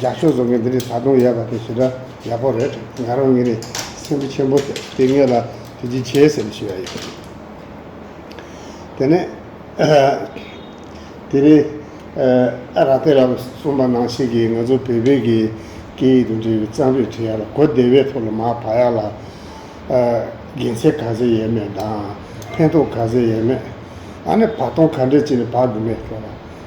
རྒྱ་ཤོག་བཟོ་མཁན་འདི་ནི་ད་དུང་ཡག་པ་དེ་ཞེ་དྲག་ཡག་པོ་རེད་ང་རང་ངེད་ནས་སེམས་འཁྲུ་ཆེན་པོ་ཐེབས་དེ་ངེད་ལ་དེ་ཅི་བྱེད་ཟེར་ནས་ཤི་ཡ་ཡོད་དེ་ནས་དེ་རིང་ཨ་ར་ཏེ་ར་གསུམ་པ་ནང་ཞིག་གིས་ང་ཚོ་བལ་བོད་ཀྱི་སྐད་ཡིག་དང་འབྲེལ་བའི་གཙང་རུས་བྲིས་ཡ་ལ་གོ་བདེ་བའི་ཐོག་ལ་མ་བག་ཡ་ལ་དགེ་མཚན་ག་ཟེ་ཡས་མེད་དང་ཕན་ཐོག་ག་ཟེ་ཡས་མེད་ཨ་ནི་བག་སྟོང་ག་འདྲས་ཅིག་ནས་བག་དགོས་མེད་སྐྱོ་ལ།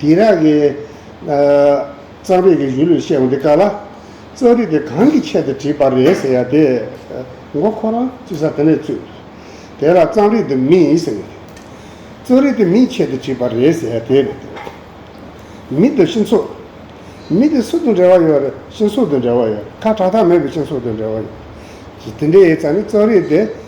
དེང་རབས་ཀྱི་གཙང་སྤེལ་གྱི་གཞུང་ལུགས་བཤད་འོང་དེ་ག་ལ། རྩོམ་རིག་དེ་གང་གི་ཆེད་དུ་བྲིས་པ་རེད་ཟེར་ཡ་དེ་མགོ་ཁོ་རང་ཅི་ཟ་དེ་ནས་བཙུད། དེ་ལ་གཙང་རིག་དེ་མི་ཡིན་ཟེར་ཡ་དེ། རྩོམ་རིག་དེ་མིའི་ཆེད་དུ་བྲིས་པ་རེད་ཟེར་ཡ་དེ་རེད་དེ། མི་དང་ཤིང་སོགས། མི་དེ་སུ་དང་འབྲེལ་བ་ཡོད་རེད་ཤིང་སོགས་དང་འབྲེལ་བ་ཡོད་རེད་ཁ་གྲགས་ཐག་མེད་པའི་ཤིང་སོགས་དང་འབྲེལ་བ་ཡོད་རེད། དེ་འདྲའི་ཡིན་ཙང་ནི་རྩོམ་རིག་དེ།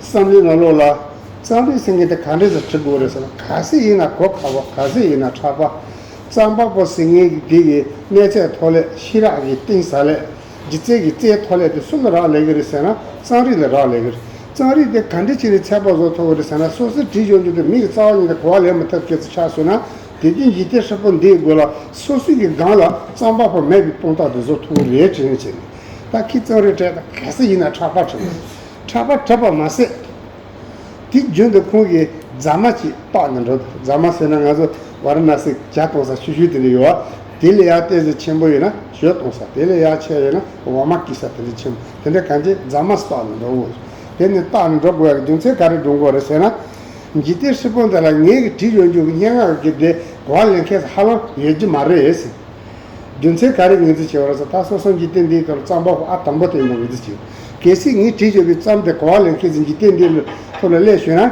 བསམ་བློའི་ངང་ལོག་ལ། གཙང་པའི་སེང་གེ་དེ་ག་འདྲས་སུ་བྲི་དགོས་རེད་ཟེར་ན་ག་སེ་ཡིན་ན་གོ་ཁ་བ་ག་སེ་ཡིན་ན་ཁྲག་པ། གཙང་པགས་པོ་ཟིང་ངེ་གི་གི་གི་གནས་ཚད་མཐོ་ལས་ཤི་རག་གི་གཏིང་ཟ་ལས། ལྗིད་རྩེ་གི་རྩེ་མཐོ་ལས་དེ་སུ་ལ་རག་ལས་གི་རེད་ཟེར་ན་གཙང་རིགས་ལ་རག་ལས་གི་རེད། གཙང་རིགས་དེ་ག་འདྲས་བྱས་ནས་ཚད་པ་བཟོ་ཐུབ་རེད་ཟེར་ན་སོ་སོས་བྲིས་ཡོང་རྒྱུ་དེ་མི་ཡི་རྩ་བ་ཉིད་དེ་གོ་བ་ལེན་མི་ཐུབ་ཁྱེད་ཚོ་ཆགས་སོང་ན་དེ་རྒྱུན་ལྗིད་རྩེ་ཧྲིལ་པོ་འདིའི་དགོས་ལ་སོ་སོའི་གི་སྒང་ལ་གཙང་པགས་པོ་མེད་པའི་སྟོང་རྟགས་དེ་བཟོ་ཐུབ་གི་རེད་དྲན་ནས་བྱས་ནས་ད་ཁྱི་གཙོ་རེད་དྲན་ད་ག་ས་ཡིན་ན་ཕྲག་པ་བྲེད་ཕྲག་པ་བྲེད་པ་མ་ཟད། དེ་རྒྱུན་དུ་ཁོང་གིས་རྫ་མ་ཅིག་བཏོག་ནས་འགྲོ་དང་རྫ་མ་ཟོས་ན་ང་ཚོ་བ་ར་ན་སི་བྱ་གཏོང་ས་ཆུ་ཤུལ་དེ་འདྲ་ཡོད་ཨ་དེ་ལས་ཡག་ལྟས་ཟི་ཆེན་པོ་ཡོད་ན་ཞོལ་གཏོང་ས་དེ་ལས་ཡག་ཆེ་ཡོད་ན་འོ་མ་སྐྱི་ས་དེ་འདྲ་ཆེན་པོ་དེ་འདྲ་གང་བྱེད་རྫ་མ་བཏོག་ནས་འགྲོ་དགོས་དེ་ནི་བཏག་ནས་འགྲོ་དགོས་ཡག་རྒྱུ་མཚན་ག་རེ་འགྲོ་དགོས་རེད་ཟེར་ན། ཇི་སྟེ་ཧྲིལ་པོ་འདི་ལ་ངས་དྲིས་ཡོང་རྒྱུ་སྙན་ངག་གི་འདི་གོ་བ་ལེན་མཁན་ཧ་ལམ་ཡོད་ཀྱི་མ་རེད། རྒྱུ་མཚན་ག་རེ་ངེས་འཛིན་བྱེད་པ་རེད་ཟེར་ད་སོ་སོ་འཇིག་རྟེན་འདིའི་སྐབས་རྩམ་པ་པོ་ཨ་དང་པོ་དེ་ཡིན་པ་ངེས་འཛིན་བྱེད་དགོས་གལ་སྲིད་ངས་དྲི་གཅོད་པའི་རྩམ་དེ་གོ་བ་ལེན་མཁན་ཚོས་འཇིག་རྟེན་འདིའི་ཐོག་ལ་སླེབས་ཤོད་ན།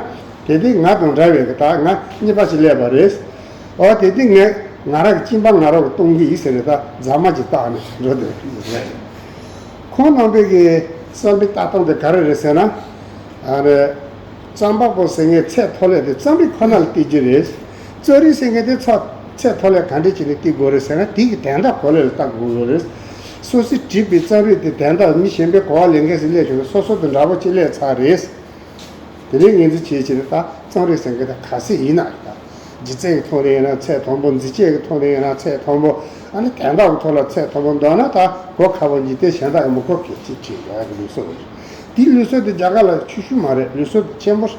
དེ་དེང་ང་དང་འདྲ་བའི་ད་ང་གཉིས་པ་ཞིག་སླེབས་པ་རེད། འོ་དེ་དེང་ངས་ང་རང་གི་གཅིན་པ་ང་རང་གིས་གཏོང་གི་ཡིན་ཟེར་ནས་ད་རྫ་མ་ཅིག་བཏགས་ནས་འགྲོ་འདོད་རེད། ཁོང་རྣམ་པས་གི་རྩམ་པའི་ལྟ་སྟངས་དེ་ག་རེ་རེད་ཟེར་ན། རྩམ་པ་པོ་ཟེར་ངའི་ཚད་མཐོ་སླེབས་ཏེ་རྩམ་རིགས་ཁོ་ན་ལ་བལྟས་རྒྱུ་རེད། རྩོད་རིགས་ཟེར་མཁན་དེ་ཚོ་ཚད་མཐོ་ལས་ག་འདྲས་བྱས་ནས་བསྟི་དགོས་རེད་ཟེར་ན་དེ་ཡི་དན་རྟགས་གོ་ལས་ལ་བལྟ་དགོས་བཟོ་རེད། སོ་སི་བྲིས་པའི་རྩབ་རིགས་དེ་དན་རྟགས་མི་གཞན་པའི་གོ་བ་ལེན་མཁན་ཟིག་སླེབས་བྱུང་ན་སོ་སོ་དང་འདྲ་པོ་གཅིག་ལས་ཚར་རེད། དེ་ལས་ངེས་འཛིན་བྱེད་བྱེད་ན་ད་རྩོམ་རིགས་ཟེར་མཁན་དེ་ག་ཟེ་ཡིན་ན་རེད་དཱ། ལྗིད་ཚད་ཀྱི་ཐོག་ནས་ཡིན་ན་ཚད་མཐོན་པོ་འཛིན་སྤྱད་ཀྱི་ཐོག་ནས་ཡིན་ན་ཚད་མཐོན་པོ་ཨ་ནི་དན་རྟགས་ཀྱི་ཐོག་ལ་ཚད་མཐོན་པོ་འདོགས་ན་ད་གོ་ཁ་བོ་འཇིག་རྟེན་གཞན་དག་ཡང་མི་གོ་གལ་ཅེས་བྲིས་ཡོད་རེད་ལུས་སྲོལ་རེད། དེའི་ལུས་སྲོལ་དེ་རྒྱ་གར་ལ་ཆོས་ཞུ་མ་རེད་ལུས་སྲོལ་དེ་ཆེན་པོ་རེད།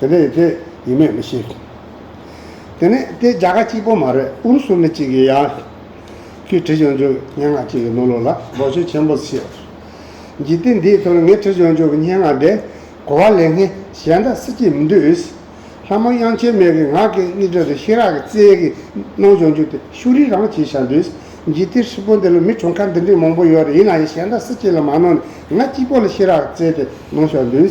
དེ་ནས་དེ་ཡིན་མེད་མི་ཤེས། དེ་ནས་དེ་རྒྱ་གར་གཅིག་པོ་མ་རེད་ཨུ་རུ་སུ་མི་གཅིག་གི་ཡང་ཁྱོད་ཁྲི་བྱང་ཆུབ་སྙན་ངག་གཅིག་གི་ནོར་ལུག་ལ་ལོག་ཆོས་ཆེན་པོ་ཤེས་པར་གྱིས་ཏེ་འདིའི་དོན་ངས་ཁྲི་བྱང་ཆུབ་སྙན་ངག་འདི་གོ་བ་ལས་ངས་གཞན་དག་སྲིད་ཀྱི་མི་འདོད། ལྷ་མོ་དབྱངས་ཆོས་མེད་ཀྱི་ངག་གི་སྙིགས་དྲོད་དུ་ཤེས་རག་གི་རྩལ་གྱི་སྣང་བྱང་བཅུག་སྟེ་ཤུ་རིག་རང་བྱེད་བྱ་འདོད། གྱིས་ཏེ་ཧྲིལ་པོ་འདི་ལ་མི་གྲོངས་ཁ་འདི་འདྲའི་མང་པོ་ཡོད་རེད་ཡིན་ནའང་གཞན་དག་སྲིད་ཀྱི་ལ་མ་ནོར་ནས་ང་གཅིག་པོ་ལ་ཤེས་རག་གི་རྩལ་དེ་སྣང་བྱ་འདོད།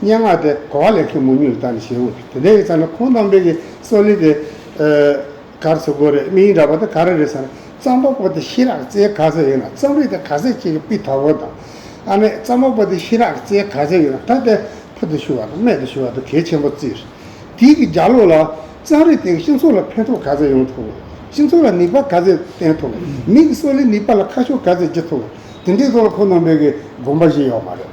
སྙན་ངག་དེ་གོ་བ་ལེགས་མཁན་མོ་ཉུལ་ལྟ་ནི་ཞེ་འུ་དེ་འདྲ་ཡོད་ཚ་ན་ཁོང་དང་འབྲེལ་གྱི་སྲོག་ལེ་དེ། གར་ཚུགས་དགོས་རེད་མིང་འདྲ་པོ་དེ་ག་རེ་རེད་ཟེར་ན་རྩམ་པ་པོ་དེ་ཤི་རག་རྩེའི་ག་ཚད་ཡོད་ན་རྩམ་རིགས་དེ་ག་ཚད་ཅིག་གི་པི་ཐ་གོ་དང། ཨ་མས་རྩམ་པ་པོ་དེ་ཤི་རག་རྩེའི་ག་ཚད་ཡོད་ན་ད་ལྟའི་ཕུ་དུ་ཤུ་བ་དང་སྨད་དུ་ཤུ་བ་དུ་གས་ཆེན་པོ་བཙིར། དེའི་གི་རྒྱ་ལོ་ལ། རྩམ་རིགས་དེ་གི་སྤྱི་ཚོགས་ལ་ཕན་ཐོག་ག་ཚད་ཡོང་ཐུབ་བམ། སྤྱི་ཚོགས་ལ་ནིག་པ་ག་ཚད་བསྟན་ཐུབ་བམ། མི་གི་སྲོག་ལེ་ནིག་པ་ལ་ཁ་ཕྱོགས་ག་ཚད་བགྱི་ཐུབ་བམ། དེ་འདྲའི་ཐོག་ལ་ཁོང་དང་འབྲེལ་གྱི་དགོངས་པ་བཞི་ཡོད་མ་རེད།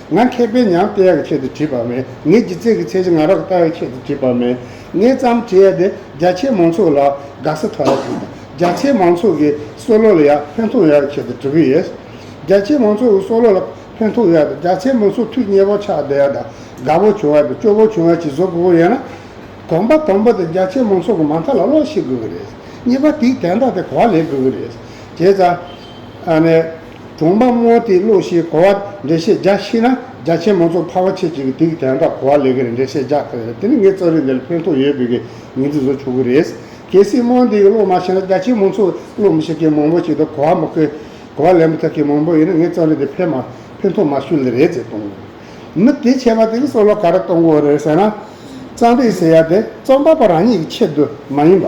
ང་མཁས་པས་ཉམས་བསྟེན་ཡག་ཆེད་དུ་བྲིས་པ་མེད། ངའི་སྒྱུ་རྩལ་གྱི་ཚད་གཞི་ང་རང་གིས་བལྟ་ཡག་ཆེད་དུ་བྲིས་པ་མེད། ངས་བརྩམས་བྲིས་ཡག་དེ་རྒྱ་ཆེའི་མང་ཚོགས་ལ་དགའ་ས་ཐོག་ཡག་བྲིས་དང་རྒྱ་ཆེའི་མང་ཚོགས་ཀྱི་བསོ་བློ་ལ་ཡག་ཕན་ཐོགས་ཡག་ཆེད་དུ་བྲི་གི་ཡོད། རྒྱ་ཆེའི་མང་ཚོགས་ཀྱི་བསོ་བློ་ལ་ཕན་ཐོགས་ཡག་དང་རྒྱ་ཆེའི་མང་ཚོགས་ཐུགས་མཉེས་པོ་ཆགས་བསྡད་ཡག་དང་དགའ་པོ་བྱུང་ཡག་དང་སྐྱོ་པོ་བྱུང་ཡག་ཅེས་བཟོ་དགོས་པ་ཡིན་ན། དགོངས་པ་དང་པོ་དེ་རྒྱ་ཆེའི་མང་ཚོགས་ཀྱི་མ་མཐའ་ལ་བློ་ཤེས་དགོས་ཀྱི་རེད། གཉིས་པ་དེའི་དན་རྟགས་དེ་གོ་བ་ལེན་དགོས་ཀྱི་རེད། བྱས་ཙང། ཨ་ནེ། གྲོང་པ་སྔོ་སྟེ་གློ་ཞེས་གོ་བ་འགྲེལ་བཤད་རྒྱ་ཤེས་ན་རྒྱ་ཆེན་མོ་ཚོ་ཕ་བ་ཁྱེད་ཅིག་གིས་དུས་ཀྱི་དན་རྟགས་གོ་བ་ལེགས་ཀྱི་རེད་འགྲེལ་བཤད་རྒྱག་ཐུབ་ཡོད་དེ་ནི་ངས་རྩོམ་རིགས་འདི་ལ་ཕན་ཐོགས་ཡོད་པའི་ངེས་འཛིན་བཟོ་ཆོག་གི་རེད། གལ་སྲིད་སྨོན་འདི་ཡི་གློ་མ་ཤེས་ན་རྒྱ་ཆེན་མོ་ཚོ་གློ་མི་ཤེས་མཁན་མང་པོ་ཞིག་འདུག་གོ་བ་མི་ཁོས་གོ་བ་ལེན་མི་ཐུབ་མཁན་མང་པོ་ཡོད་ན་ངས་རྩོམ་རིགས་འདི་ཕན་མ་ཕན་ཐོགས་མ་ཤོད་ལེ་རེད་ཅེས་གཏོང་གི་རེད། མི་དེས་ཆད་པ་དེ་གསོ་ལོ་ག་རེ་གཏོང་དགོས་རེད་ཟེར་ན། རྩོམ་རིགས་ཟེར་ཡ་དེ་རྩོམ་པ་པོ་རང་ཉིད་ཀྱི་ཆེད་དུ་མ་ཡིན་པ།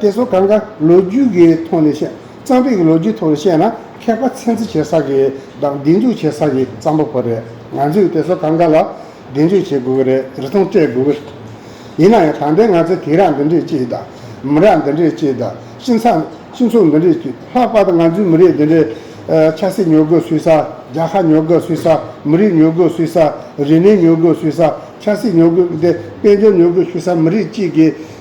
དེ་ཚོ་གང་གཱ་ལོ་རྒྱུས་ཀྱི་ཐོག་ནས་བཤད། གཙང་པས་ཀྱི་ལོ་རྒྱུས་ཐོག་ནས་བཤད་ན་མཁས་པ་ཚན་རྩིས་བྱེད་ས་ཀྱི་དང་སྒྲིག་འཛུགས་བྱེད་ས་ཀྱི་གཙང་པོ་ཁོ་རེད། ང་ཚོས་དེ་ཚོ་གང་གཱ་ལ་སྒྲིག་འཛུགས་བྱེད་དགོས་ཀྱི་རེད་རི་ཐང་སྤྲད་དགོས་ཀྱི་རེད། ཡིན་ན་ཡང་ད་ལྟའི་ང་ཚོས་དེ་རག་འདི་འདྲས་ཀྱིས་དང། མི་རག་འདི་འདྲས་ཀྱིས་དང་སྤྱི་ཚགས་སྤྱི་ཚོགས་འདི་འདྲས་ཀྱིས་ལྷག་པར་དུ་ང་ཚོའི་མི་རིགས་འདི་འདྲས། ཆབ་སྲིད་ཉོ་དགོས་སུས་ས་རྒྱ་ཁ་ཉོ་དགོས་སུས་ས་མི་རིགས་ཉོ་དགོས་སུས་ས་རིག་གནས་ཉོ་དགོས་སུས་ས་ཆབ་སྲིད་ཉོ་དགོས་དཔལ་འབྱོར་ཉོ་དགོས་སུས་ས་མི་རིགས་གཅིག་གི་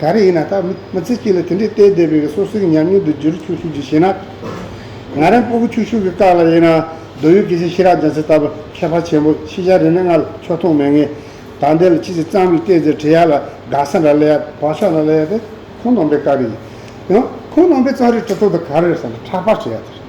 ག་རེ་ཡིན་ན་ད་མི་ཚེ་གཅིག་ལ་དེ་འདྲའི་བལྟས་བསྡད་པའི་གི་སོ་སོའི་ཉམས་མྱོང་དུ་བསྒྱུར་ཆུག་ཆུག་ཅིག་བྱེད་ན། ང་རང་སྤོ་བོ་ཆུག་ཆུག་གི་སྐག་ལ་ཡིན་ན་རྡོ་ཡུ་གེ་ཆེ་ཤི་རག་རྒྱ་ཚེ་ལྟ་བུ་ཁྱད་པར་ཆེན་པོ་ཕྱི་ཤ་རེ་ནས་ང་ལ་ཕྱོགས་མཐོང་མེད་ངེས། ད་འདི་ལ་ཅི་ཞིག་གཙང་མིག་བལྟས་ཚེ་བྲེལ་ཡག་ལ་དགའ་ས་འདྲ་ལེ་ཡག་བག་ཆགས་འདྲ་ལེ་ཡག་དེ་ཁོང་ནང་པའི་སྐག་རེ་ཡིན། ཡང་ཁོང་ནང་པའི་གཙང་རེ་གྲི་ཐོག་ཏུ་ག་རེ་རེད་བསམ་ན་ཕྲག་པར་བྱེད་ཡག་ཚོད་རེད།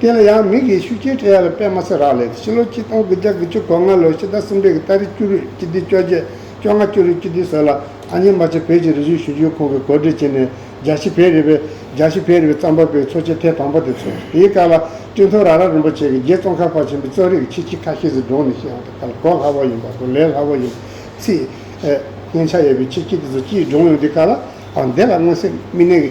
དེ་ལ་ཡང་མིག་གི་ཤུགས་ཆེན་ཕྲད་ཡ་ལ་པད་མ་སེ་རག་ལས་ཏེ་ཕྱི་ལོ་ཆིག་སྟོང་དགུ་བརྒྱ་དགུ་ཅུ་གོ་ལྔ་ལོར་ཕྱི་ཟླ་གསུམ་རེས་ཀྱི་སྟ་རེ་བཅུ་རེས་སྤྱི་བདེ་བཅོ་བརྒྱད་བཅོ་ལྔ་བཅུ་རེས་སྤྱི་བདེ་ཟེར་ལ་ཨ་མྱེས་རྨ་ཆེན་བོད་ཀྱི་རི་སུལ་ཞིབ་འཇུག་ཁང་གི་གོ་སྒྲིག་བྱས་ནས་རྒྱ་ཤི་བྷེ་རི་བའི་རྒྱ་ཤི་བྷེ་རི་བའི་རྩམ་པ་པའི་འཚོ་བྱེད་ཐེངས་དང་པོ་དེ་འཚོགས། དེའི་སྐབས་ལ་སྤྲིན་ཐོ་ར་ར་རིན་པོ་ཆེ་གིས་རྗེ་ཙོང་ཁ་པ་ཆེན་པོའི་གཙོས་རིགས་ཀྱི་ཆེ་ཆི་ཁ་ཤས་ཟིག་འབྲོང་ནས་ཤི་ཡང་ཐུབ་ཁ་ལ་གོ་སླ་བོ་ཡིན་པ་དང་ལས་སླ་བོ་ཡིན་ཚིག། སྙན་ཆ་ཡོད་པའི་ཆེ་ཆི་དེ་ཚོ་སྤྱིའི་འབྲོང་ཡོང་དུས་ཁ་ལ་འདེད་ལ་མངོན་སེམས་རྨི་ལེན།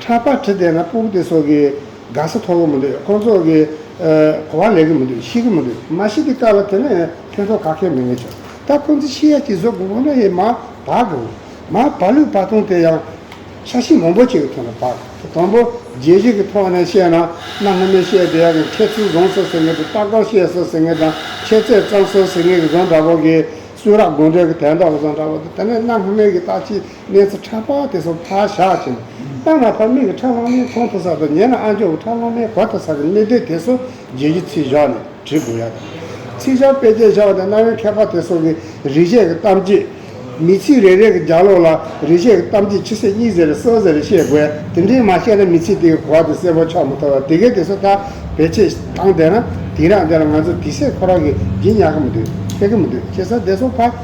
ཕྲག་པར་གྲི་བསྟན་ན་སྤུ་གུ་དེ་སོགས་ཀྱི་དགའ་ས་ཐོབ་གི་མི་འདུག་ཁོང་ཚོ་གི་གོ་བ་ལེགས་གི་མི་འདུག་ཤེས་གི་མི་འདུག་མ་ཤེས་ཏེ་བཀག་ལ་དེ་ནས་ཕན་ཐོག་ག་ཁེ་མི་ངེས་བྱུང་ད་ཁོང་ཚོ་ཤི་ཡ་གྱི་བཟོ་དགོས་དགོས་ན་ཡི་མ་བག་གི་འོང་མ་བག་ལུས་བག་སྟོང་དེ་ཡང་ཤ་ཤི་མང་པོ་བྱས་གི་ཐོག་ནས་བག་གི་དང་པོ་རྒྱལ་གཞིས་ཀྱི་ཐོག་ནས་བཤད་ན་གནའ་སྔ་མོའི་བཤད་སྡེ་ཡག་གི་ཁྱད་ཚུལ་བཟང་སོ་ཟེར་ངེས་དུ་རྟག་པར་བཤད་སོ་ཟེར་ངེས་དང་ཁྱད་རྩད་གཙང་སོ་ཟེར་ངེས་གི་བཟང་འདྲ་བོ་གི་སུ་རག་དགོང་དྲོད་ཀྱི་དལ་མདོག་བཟང་འདྲ་བོ་དང་དེ་ནས་གནའ་སྔ་མོའི་གི་རྟག་ཅི། གནས་ཚུལ་ཕྲ་པོ་དེ་ཚོ་ཕར་བཞག་ཅིང། ལྟ་ན་ཕ་མེས་ཀྱི་ཁྲག་ལྷག་མའི་ཚོང་དུ་ས་དང་ཉེ་ན་ཨ་མཆོག་གི་ཁྲག་ལྷག་མའི་གོ་ཐོས་ས་ཀྱི་གནད་དོན་དེ་ཚོ་རྗེས་ཀྱི་ཚིག་བཞག་ནས་བྲིས་དགོས་ཡ་དང། ཚིག་བྱང་དཔེ་བརྒྱད་བཞག་ནས་གནའ་བོའི་མཁས་པ་དེ་ཚོ་གི་རིག་བྱེད་ཀྱི་གཏམ་རྗེས། མི་ཚིག་རེ་རེ་གི་རྒྱག་ལོག་ལ་རིག་བྱེད་ཀྱི་གཏམ་རྗེས་ཕྱི་ཟེར་གཉིས་ཟེར་རེ་གསལ་ཟེར་རེ་བཤད་དགོས་དེ་འདྲས་མ་བཤད་ན་མི་ཚིག་དེ་གི་གོ་བ་དེ་གསལ་པོ་ཆགས་མ་ཐུབ་ལ་དེ་གས་དེ་ཚོ་དག་བེད་སྤྱད་བཏང་བསྡད་ན་དེང་རགས་འདི་ལ་ང་ཚོ་དེ་སྲིད་ཁོ་རང་གི་སྦྱིན་ཉག་གི་མི་འདུག་ཕེབས་ཀྱི་མི་འདུག་ཅེས་ས་དེ་ཚོ་ཕ།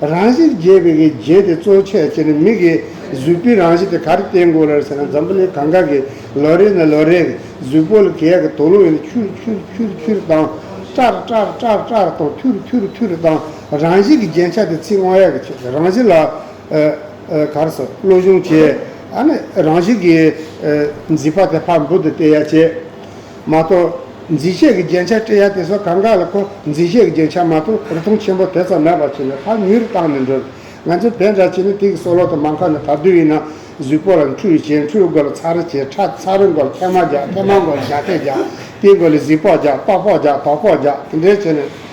རང་བཞིན་རྒྱས་པའི་གི་རྗེས་དེ་གཙོ་བྱས་བྱས་ནས་མིག་གི་གཟུགས་པོའི་རང་བཞིན་དེ་ག་རེ་བསྟན་དགོས་ལར་ཟེར་ན་འཛམ་བུ་གླིང་གང་ག་གི་ལོ་རེ་ནས་ལོ་རེར་གཟུགས་པོ་ལ་གས་ཀྱི་དོ་ལུང་ཡིན་ན་ཁྱུར་ཁྱུར་ཁྱུར་ཁྱུར་དང། ཀྲར་ཀྲར་ཀྲར་ཀྲར་དང་ཐུར་ཐུར་ཐུར་དང་རང་བཞིན་གྱི་རྒྱན་ཆ་དེ་ཚིག་དབང་ཡག་གི་ཆེད་རང་བཞིན་ལ། གར་སོགས་བློ་གཞུང་བྱས། རང་བཞིན་གྱི། མཛེས་པ་དེ་ཕར་འབུར་དུ་བལྟས་ཡ་བྱས། མ་གཏོགས། འཛིན་ཤེས་ཀྱི་རྒྱན་ཆ་སྤྲས་ཡ་དེ་ཚོ་གང་ག་ལ་ཁོ་འཛིན་ཤེས་ཀྱི་རྒྱན་ཆ་མ་གཏོགས་རི་མཐོང་ཆེན་པོ་དེ་ཙམ་མེད་པར་བྱས་ནས་ཕར་མྱུལ་བཏང་ནས་འགྲོ། ང་ཚོས་བལ་འདྲ་བྱས་ནས་དེ་གི་སོ་ལོག་ཏུ་མ་མཁར་ནས་དར་དུས་ཡིན་ན། གཟུགས་པོ་ལ་འཁྲུལ་བྱས་འཁྲུལ་དགོས་ལ་ཚ་རུ་བྱས་ཁྲ་ཚ་རུ་དགོས་ཐལ་མ་རྒྱག་ཐལ་མ་དགོས་ལ་ཞགས་ཐལ་རྒྱག་དེ་དགོས་ལ་གཟིག་ཕོག་རྒྱག་ལྟོགས་ཕོག་རྒྱག་དོགས་ཕོག་རྒྱག་དེ་འདྲས་བྱས་ནས།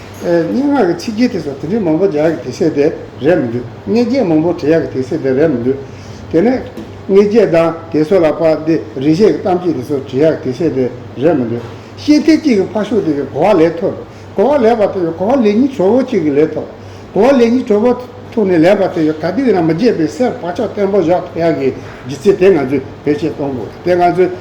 སྙན་ངག་གི་ཚིག་གི་དེ་སོགས་དེ་འདྲའི་མང་པོ་རྒྱ་ཡག་གི་དེ་སེ་དེ་རེད་མི་འདུག་དངོས་བརྒྱད་མང་པོ་དྲི་ཡག་གི་དེ་སེ་དེ་རེད་མི་འདུག་དེ་ནས། དངོས་བརྒྱད་དང་དེ་སོགས་ལ་པར་འདི་རིན་ཤེས་ཀྱི་གཏམ་གཅིག་དེ་སོགས་དྲི་ཡག་གི་དེ་སེ་དེ་རེད་མི་འདུག་ཤེས་ཐེབས་གཅིག་གི་ཕ་ཤུག་དེ་གི་གོ་བ་ལེན་ཐུབ། གོ་བ་ལེན་པ་དེ་གི་གོ་བ་ལེན་གཉིས་གྲོགས་པོ་གཅིག་གི་ལེན་ཐུབ། གོ་བ་ལེན་གཉིས་གྲོགས་པོ་ཐུག་ནས་ལེན་པ་དེ་གི་ག་དུས་ཡིན་ན་མི་བརྗེད་པའི་སེར་བག་ཆགས་བརྟན་པོ་བཞག་ཐུབ་ཡག་གི་གཞི་རྩའི་དེ་ང་ཚོས་བེད་སྤྱད་གཏོང་དགོས་དེ་ང་ཚོས།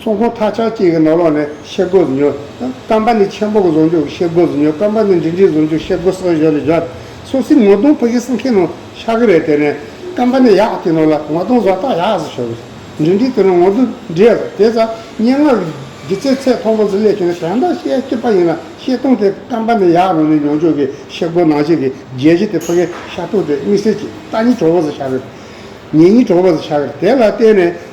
ཚོང་ཁང་ཐག་ཆག་བཅས་ཀྱི་ནོར་ལོག་ནི་ཤེལ་སྒོ་བཟོ་ཉོ། སྐམ་པ་ནི་ཆེན་པོ་གི་བཟོ་འཇུག་གི་ཤེལ་སྒོ་བཟོ་ཉོ་སྐམ་པ་ནི་འབྲིང་གྲས་བཟོ་འཇུག་ཤེལ་སྒོ་སོགས་ཞོར་ལས་སྦྱོར་སོགས་སྲིད་ངོ་གདོང་ཕུག་གི་སྲིད་མཁན་ནོར་ཤག་གི་རེད་དེ་ནས་སྐམ་པ་ནི་ཡག་གི་ནོར་ལ་ངོ་གདོང་བཟོ་སྟངས་ཡག་ཟེར་ཞོར་འབྲིང་གྲས་དེ་ནོར་ངོ་གདོང་འདྲེས་ཟེར་དེ་ཚ་སྙན་ངག་གི་སྒྱུ་རྩལ་ཚད་མཐོ་པོ་ཟིན་ལས་བྱུང་བའི་དོན་དག་ཤེལ་སྐྱིད་པ་ཡིན་ལ་ཤེལ་སྟོང་དེ་སྐམ་པ་ནི་ཡག་ནོར་ནི་ཉོ་འཇུག་གི་ཤེལ་སྒོ་ནང་བཞིན་གྱི་རྒྱལ་སྤྱི་དེ་ཕུག་གི་ཤ་ཐུག་དེ་དམིགས་བསལ་གྱི་རྟགས་གཉིས་གྲོགས་པོ་ཟེར་ཤག་གི་རེད་ཉེ་གཉིས་གྲོགས་པོ་ཟེར་ཤག་གི་རེད་དེ་ལ་བརྟེན་ནས།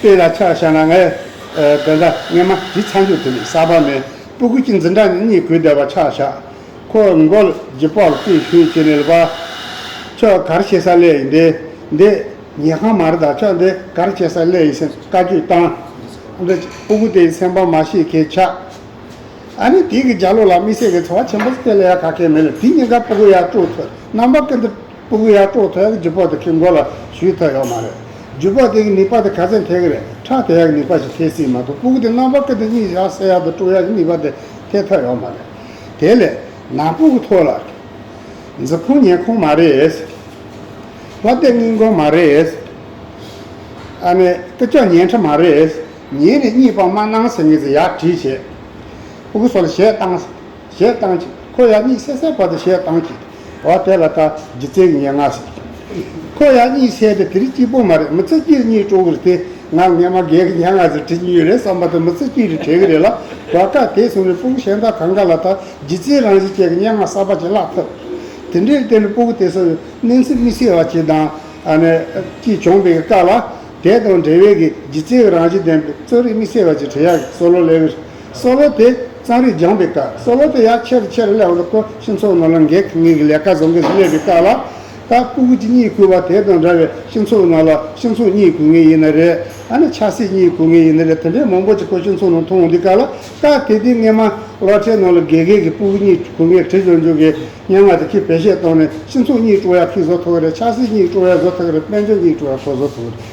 དཔེ་ལ་ཆ་བཞག་ན་ངའི་དགོན་པ་རྔན་མ་དེ་ཚང་རྒྱུག་དེ་ནས་གསར་པ་མའི་སྤུ་གུ་གཅིག་འཛིན་གྲྭ་ནས་གཉིས་གུས་འདེབས་པ་ཆ་བཞག་ཁོ་མགོ་ལྗི་སྤོར་རྩིས་བཤུས་བྱེད་ནས་ལུས་པ། ཁྱོད་གར་བྱེད་ས་ལས་ཡིན་འདི་འདི། ཉལ་ཁང་མ་རེད་ད་ཁྱོད་འདི་གར་བྱེད་ས་ལས་ཡིན་ཟེར་ནས་བཀའ་བརྒྱུད་བཏང། འདི་སྤུ་གུ་དེ་སེམས་པ་མ་ཤེས་གལ་ཆགས། ཨ་ནི་དེ་གི་རྒྱ་ལོ་ལ་དམིགས་བསལ་གྱི་འཚོ་བ་ཆེན་པོ་སྤེལ་ཡ་ཁ་སྐད་མེད་ལ་དེ་གཉིས་ཀ་སྤུ་གུ་ཡར་དཀྲུགས་ཐོད་རྣམ་པ་ཀི་འདི། སྤུ་གུ་ཡར་དཀྲོག་ཐལ་རྒྱུ་པོ་དེ་གི་མགོ་ལ་བཞུས་ཐབས་ཡོག་མ་རེད། རྒྱུ་པོ་དེ་གི་ནུས་པ་དེ་ག་ཚད་འཐེག་རེད་ཁྲག་དེ་ཡག་ནུས་པ་ཞིག་འཐེག་སྲིད་མ་གཏོགས་སྤུ་གུ་དེ་རྣམ་པ་ཀི་དེ་གཉིས་བཞག་བསད་ཡག་དང་དཀྲུག་ཡག་གི་ནུས་པ་དེ་འཐེག་ཐབས་ཡོག་མ་རེད། དེ་ལས། ནང་སྤུ་གུ་ཐོག་ལ། འཛི་ཕོང་ཉལ་ཁོང་མ་རེད། ལྷ་སྟེགས་སྔིན་གོང་མ་རེད། ཨ་ནི་ཀི་ཅོག་ཉལ་འཕྲ་མ་རེད། ཉལ་ནས་གཉིད་སྤང་མ་གནང་ཟེར་ངེས་ཚེ་ཡག་བྲིས་བྱས། སྤུ་གུ་སོ་ལ་གཞས་བཏང། ཞེས་བཏང་ཅིག། ཁོ་ཡང་གཉིད་སད་སད་བར་དུ་ཞེས་བཏང་ཅིག། བ་དེ་ལ་ད་ཇི་ཚེ་ངས་ང་ཟེར་གྱི། ཁོ་ཡང་གཉིད་སད་དེ་དེ་རིགས་སྐྱིད་པོ་མ་རེད་མི་ཚེ་སྐྱིད་གཉིད་སྤྲོ་གི་རེད་དེ་ང་ངས་མ་འགལ་གི་ཡང་ང་ཟེར་དྲིས་ཀྱི་ཡོད་རེད་བསམ་པ་དེ་མི་ཚེ་སྐྱིད་རེད་དྲན་གི་རེད་ལ། བ་ཀ་དེ་སོང་ནས་སྤུ་གུ་གཞན་དག་གང་ག་ལ་ད་ཇི་ཚེ་རང་བཞིན་ཅན་གྱི་སྙན་ངག་གསར་པ་ཅིག་བཀླག་ཐུབ། དེ་འདྲའི་སྟེང་ནས་སྤུ་གུ་དེ་སོང་ནས་གནོན་ཚིག་མི་ཤེས་བ་ཅིག་དང། ཀྱིས་བྱུང་བའི་ཀ་ལ་དེ་དང་འབྲེལ་བའི་གི་ཇི་ཚེ་གི་རང་བཞིན་ལྡན་པའི་རྩོད་རིགས་མི་ཤེས་བ་ཅིག་བྲིས་ཡག་གི་སོ་ལོ་ལེ་བི་རི། སཱ་ལོ་དེ་གཙང་རིས་སྦྱངས་པའི་སྐབས་སཱ་ལོ་དེ་ཡང་ཆེར་ཆེར་ཀླད་འོག་ཏུ་འཁོར་ཕྱིན་ཚོགས་ནོར་ལ་འགེགས་ངེས་ཀྱི་ལས་ཀ་བཟོ་མཁན་དུ་སླེབས་པའི་སྐབས་ལ། ད་སྤུ་གུ་ཅི་གཉིས་བརྐུས་པ་དེ་དང་འདྲ་བའི་ཕྱིན་ཚོགས་ནོར་ལ་ཕྱིན་ཚོགས་གཉིས་བརྐུས་ངེས་ཡིན་ན་རེ། ཨ་ནི་ཆགས་སྲེད་གཉིས་བརྐུས་ངེས་ཡིན་ན་རེ་དེ་འདྲའི་མང་པོ་ཅིག་ཁོ་ཕྱིན་ཚོགས་ནོར་མཐོང་འོང་དུས་སྐབས་ལ། ད་དེ་དུས་སྔས་མ་ལོ་ཁྲའི་ནོར་ལ་འགེགས་ངེས་ཀྱི་སྤུ་གུ་གཉིས་བརྐུས་ངེས་དྲི་བྱོན་འཇུག་གི་སྙན་ངག་དེ་ཁྱོད་བེད་ཤེད་གཏོང་ནས་ཕྱིན་ཚོགས་གཉིས་བཀྲུ་ཡ་ཁིས་བཟོ་ཐུག་གི་རེད་ཆགས་སྲེད་གཉིས་བཀྲུ་ཡ་བཟོ་ཐུག་གི་རེད་དཔལ་འབྱོར་གཉིས་བཀྲུ་ཡ་ཁོ་བཟོ་ཐུག་གི་རེད།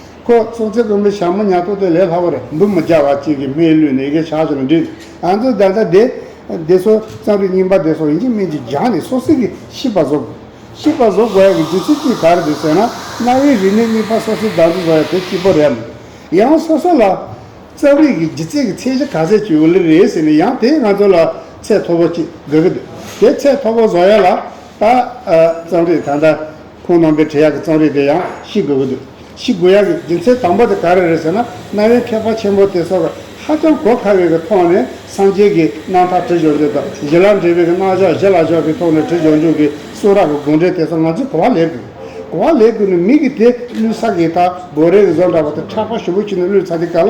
ཁོ་ཚོ་ཚེ་དགོན་པའི་ཞྭ་མོ་ཉག་ཏོག་དེ་ལས་སླ་བར་འདུག་མི་བྱ་བ་གཅིག་གིས་སྨད་ལུས་ནས་གཞས་ཆགས་སུ་འགྲིག་ང་ཚོ་ད་ལྟ་དེ། དེ་སོ་གཙང་རིགས་རྙིང་པ་དེ་སོ་ཡིན་གྱི་མིན་གྱི་སྦྱངས་ནས་སོ་སྲིད་ཀྱི་ཤིས་པ་བཟོ་དགོས། ཤིས་པ་བཟོ་དགོས་ཡ་གི་རྒྱུ་ཚིག་གཅིག་ག་རེ་རེད་ཟེར་ན་གནའ་བོའི་རིག་གནས་རྙིང་པ་སོ་སྲིད་བདག་འཛིན་བཟོ་ཡ་དེ་གཅིག་པོ་རེད། ཡང་སོ་སོ་ལ། གཙང་རིགས་ཀྱི་རྒྱུ་ཚིག་གི་ཚད་གཞི་ག་ཚད་ཅིག་ཡོད་ལེ་རེད་ཟེར་ནས་ཡང་དེ་ང་ཚོ་ལ་ཚད་མཐོ་པོ་གཅིག་དགོས་ཀྱི་འདུག་དེ་ཚད་མཐོ་པོ་བཟོ་ཡ་ལ། ད། གཙང་རིགས་ད་ལྟ། ཁོང་རྣམ་པའི་འབྲི་གཡག་གི་གཙང་རིས་དེ་ཡང་ཤི་དགོས་ཀྱི་འདུག་ཤི་དགོས་ཡག་གི་རྒྱུ་མཚན་དང་པོ་དེ་ག་རེ་རེད་ཟེར་ན་གནའ་བོའི་མཁས་པ་ཆེན་པོ་དེ་ཚོར་ཧ་ཅང་གོ་ཁ་བའི་གི་ཐོག་ནས་སངས་རྒྱས་ཀྱི་སྣང་ཐག་དྲི་བྱོ་འཇུག་དང་བཞི་ལ་འབྲེལ་བའི་གི་སྣང་ཕྱོགས་བཞི་ལ་ཕྱོགས་ཀྱི་ཐོག་ནས་དྲི་བྱོ་འཇུག་གི་གསུང་རག་གི་དགོངས་འགྲེལ་དེ་ཚོ་ང་ཚོས་གོ་བ་ལེན་དགོས། གོ་བ་ལེན་དགོས་ནས་མི་གི་དེ་བླུད་ས་གི་དང་སྒོ་རའི་གི་བཟོ་འདྲ་བ་དང་ཕྲག་པ་ཞུ་བོ་ཁྱུ་ནས་བླུད་ཚ་དེ་ག་ལ